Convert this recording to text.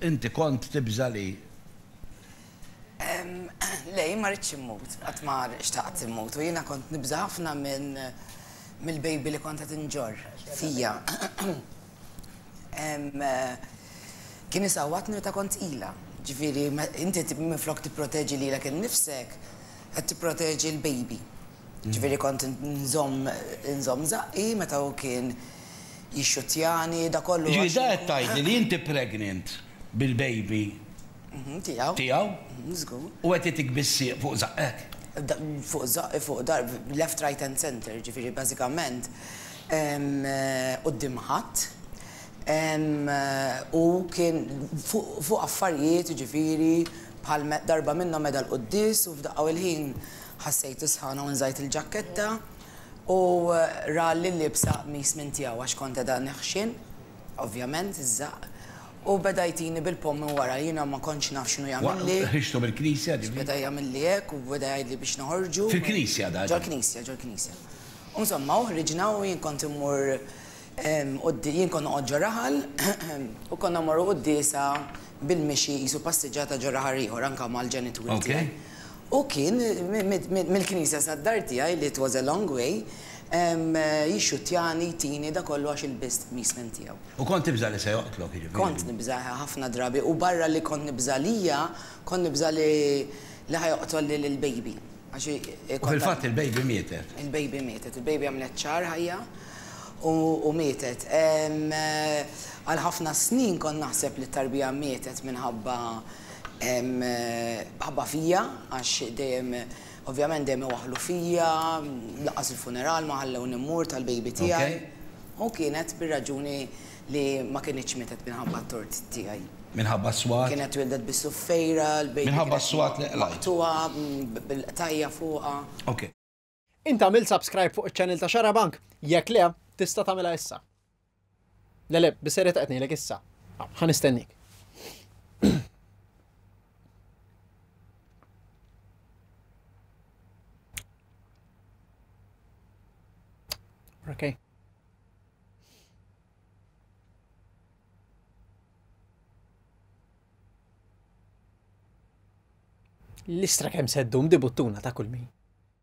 Inti kont tibża' li. Le, jien ma ridtx immut. Qatt ma xtaqt immut. U jiena kont nibża' ħafna minn mill-baby li kont qed inġorr fija. Kien isawwatni meta kont tqila. Ġifieri, inti minflok tipproteġi lilek innifsek, qed tipproteġi l-baby. Ġifieri kont nżomm nżomm żaqqi meta hu kien jixxuttjani, dak kollu għax. Jiġifieri da qed tgħidli li inti pregnant bil-baby. Mhm, tiegħu. Tiegħu? Mhm, żgur. U qed jagħtik bis-sieq fuq żaqqek? Da, fuq żaqqi, fuq dar, left, right and centre, ġifieri bażikament quddiem ħadd. U kien fuq affarijiet, jiġifieri bħal darba minnhom meda l-quddies u f'daqqa u l-ħin Ħassejtu sħana u nżajt il-ġakketta u ra li liebsa qmis minn tiegħu għax kont qiegħda neħxien, ovvjament, iż-żaqq, u beda jtini bil-pomm minn wara. Jiena ma kontx naf x'inhu jagħmilli. Waqt ħriġtu mill-knisja, ġifieri? Beda jagħmilli hekk u beda jgħidli biex noħorġu. Fil-knisja dan? Ġol-knisja, ġol-knisja. U insomma, u ħriġna u jien kont immur quddi-, jien kont noqgħod ġo raħal u konna mmorru quddiesa bil-mixi qisu passiġġata ġo raħal ieħor anke mal-ġenituri tiegħi. Hu kien, mill-knisja sad-dar tiegħi li it was a long way, jixxuttjani, jtini, da kollu għax ilbist qmismen tiegħu. U kont tibża' li se joqtlok, jiġifieri. Kont nibża' ħafna drabi u barra li kont nibża' lija, kont nibża' li ħa joqtol lil il-baby għax kont. U fil-fatt il-baby mietet. Il-baby mietet. Il-baby għamlet xahar ħajja u mietet. Għal ħafna snin kont naħseb li t-tarbija mietet minħabba. Hemm ħabba fija għax dejjem ovvjament dejjem iwaħħlu fija, lanqas il-funeral ma ħallewni mmur tal-baby tiegħi u kienet bir-raġuni li ma kinitx mietet minħabba t-tort tiegħi. Minħabba s-swat? Kienet twieldet bis-suffejra, l-baby kienet maqtugħa bil-qtajja' fuqha. Int għamilt subscribe fuq iċ-channel ta' Xarabank? Jekk le, tista' tagħmilha issa. Le le, biserjet qed ngħidlek issa. Ah, ħa nistennik. Okay. L-istra kemm seddum di buttuna ta' kull min.